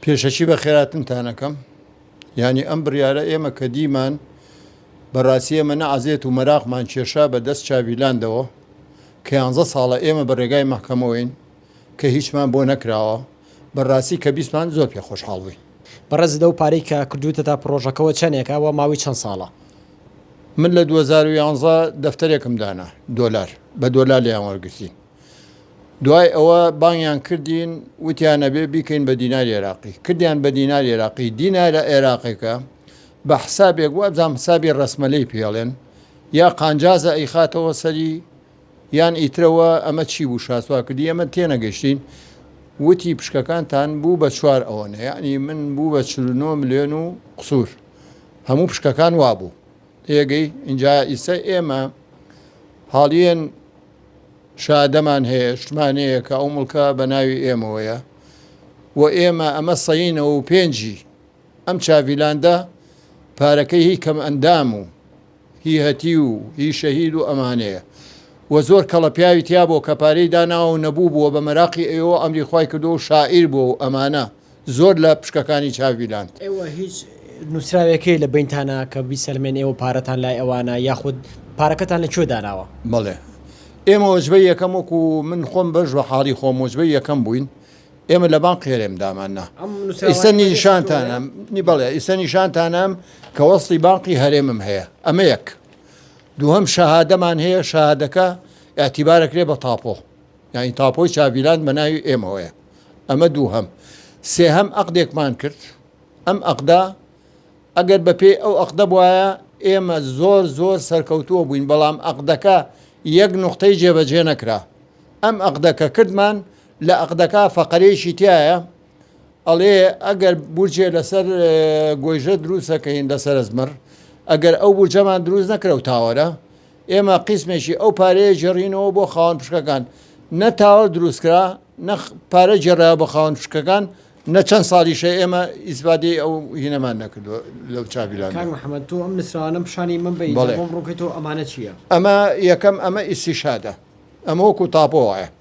پێشەکی بەخێراتنتانەکەم یانی ئەم بڕیارە ئێمە کە دیمان بەڕاستی ئێمە نە عەزێت و مەراقمان کێشا بە دەست چاڤیلاندەوە کە یانزە ساڵە ئێمە بە ڕێگای مەحکەمەوەین کە هیچمان بۆ نەکراوە بەڕاستی کە بیستمان زۆر پێ خۆشحاڵ بووین. بەڕێز لەو پارەی کە کردووتەتە پڕۆژەکەوە چەنێکە وە ماوەی چەند ساڵە؟ من لە دوو هەزار و یانزە دەفتەرێکم دانا دۆلار بە دۆلار لێیان وەرگرتین. دوای ئەوە بانگیان کردین وتیان ئەبێ بیکەین بە دیناری عێراقی کردیان بە دیناری عێراقی دینارە عێراقێکە بە حسابێک وابزانام حسابی ڕسمەلەی پێڵێن یا قانجازە ئەیخاتەوە سەری یان ئیترەوە ئەمە چی بوو شاسوا کردی ئەمە تێنەگەشتین وتی پشکەکانتان بوو بە چوار ئەوەنە یعنی من بوو بە 49 ملیۆن و قسوور هەموو پشکەکان وابوو تێگەی اینجا ئیسە ئێمە حاڵیان شادەمان هەیە شتمانەیە کە ئەو مڵکە بە ناوی ئێمەوەیە و ئێمە ئەمە سەینەوە و پێنجی ئەم چاڤیلاندە پارەکەی هی کەم ئەندام و هی هەتی و هی شەهید و ئەمانەیە و زۆر کەڵە پیاوی تیا بۆ کە پارەی داناوە و نەبوو بووە بە مەراقی ئەوە ئەمری خی کردو و شاعیر بووە و ئەمانە زۆر لە پشکەکانی چاوی لاند. ئێوە هیچ نوسراوێکەی لە بەینتانا کە بیسەلمێن ئێوە پارەتان لای ئەوانە یاخود پارەکەتان لە کوێ داناوە؟ بەڵێ ئێمە وەجبەی یەکەم وەکو من خۆم بەش بە حاڵی خۆم وەجبەی یەکەم بووین ئێمە لە بانق هێرێم دامان نا ئیسە نیشانتانم نی بەڵێ ئیسە نیشانتانم کە وەستی بانقی هەرێمم هەیە ئەمە یەک دووهم شەهادەمان هەیە شەهادەکە اعتیبارەکرێ بە تاپۆ یانی تاپۆی چاڤیلاند بە ناوی ئێمەوەیە. ئەمە دووهەم. سێهەم ئەقدێکمان کرد. ئەم ئەقدە ئەگەر بە پێی ئەو ئەقدە بوایە ئێمە زۆر زۆر سەرکەوتووە بووین بەڵام ئەقدەکە یەک نوقتەی جێبەجێ نەکرا. ئەم ئەقدە کە کردمان لە ئەقدەکە فەقەرەیەکی تیایە ئەڵێ ئەگەر بورجێ لەسەر گۆیژە دروست ئەکەین لەسەر ئەزمەڕ ئەگەر ئەو بورجەمان دروست نەکرە و تاوەرە ئێمە قیسمێکی ئەو پارەیە جێڕینەوە بۆ خاوەن پشکەکان، نە تاوەر دروستکرا نە پارە جێڕرایەوە بە خاوەن پشکەکان، نە چەند ساڵیشە ئێمە ئیسفادەی ئەو هینەمان نەکردووە لەو چاڤیلانە. کاک محمد تۆ ئەم نوسراوانەم پیشانی من بەی جا بۆم ڕوونکەیتەوە ئەمانە چیە؟ ئەمە یەکەم ئەمە ئیستیشهادە ئەمە وەکو تاپۆ وایە.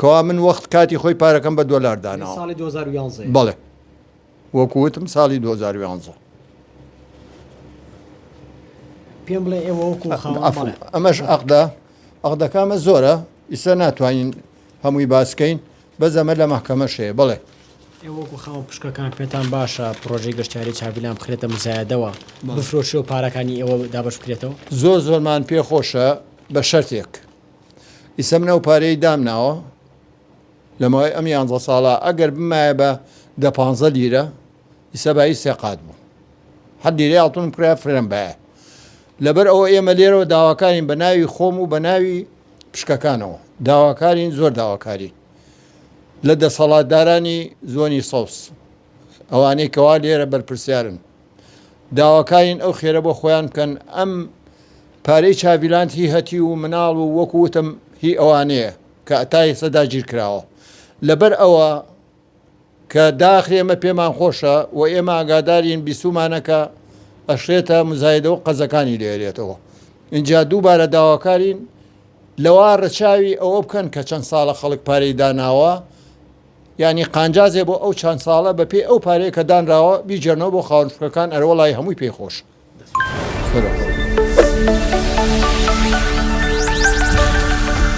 کوا من وەخت کاتی خۆی پارەکەم بە دۆلار داناوە ساڵی 2011 بەڵێ وەکوتم ساڵی 2011 پێم بڵێ ئێوە وەکو ئەمەش ئەقدا ئەقدەکامە زۆرە ئیستا ناتوانین هەمووی باسکەین بەزەمە لە محکەمە شەیە بڵێ ئێوەکو خاوە پشکەکان پێتان باشە پرۆژەی گەشتاری چاویلان بخرێتە مزایەدەوە بفرۆشی و پارەکانی ئێوە دابش بکرێتەوە زۆر زۆرمان پێخۆشە بە شەرتێک ئیسە من ئەو پارەی دامناوە لەمەوەی ئەم یانزە ساڵە ئەگەر بمایە بە دە پ لیرە ئیسە بای سێقات بوو حد لیرە یاڵتون کرا فرەن بایە لەبەر ئەوە ئێمە لێرەوە داواکارین بە ناوی خۆم و بە ناوی پشکەکانەوە داواکارین زۆر داواکاری لە دەسەڵاتدارانی زۆنی سەوس ئەوانەی کەوا لێرە بەرپرسیارن داواکارین ئەو خێرە بۆ خۆیان بکەن ئەم پارەی چاڤیلاند هی هەتیو و مناڵ و وەکو وتم هی ئەوانەیە کە تا ئێستا داگیر کراوە لەبەر ئەوە کە داخ ئێمە پێمان خۆشە و ئێمە ئاگادارین بیستومانە کە ئەشێتە مزایدە و قەزەکانی لێرێتەوە اینجا دووبارە داواکارین لەوا ڕەچاوی ئەوە بکەن کە چەند ساڵە خەڵک پارەی داناوە یانی قانجازێ بۆ ئەو چەند ساڵە بە پێی ئەو پارەیە کە دانراوە بیجێرنەوە بۆ خاوەن فکرەکان ئەرە وەڵای هەمووی پێی خۆشە.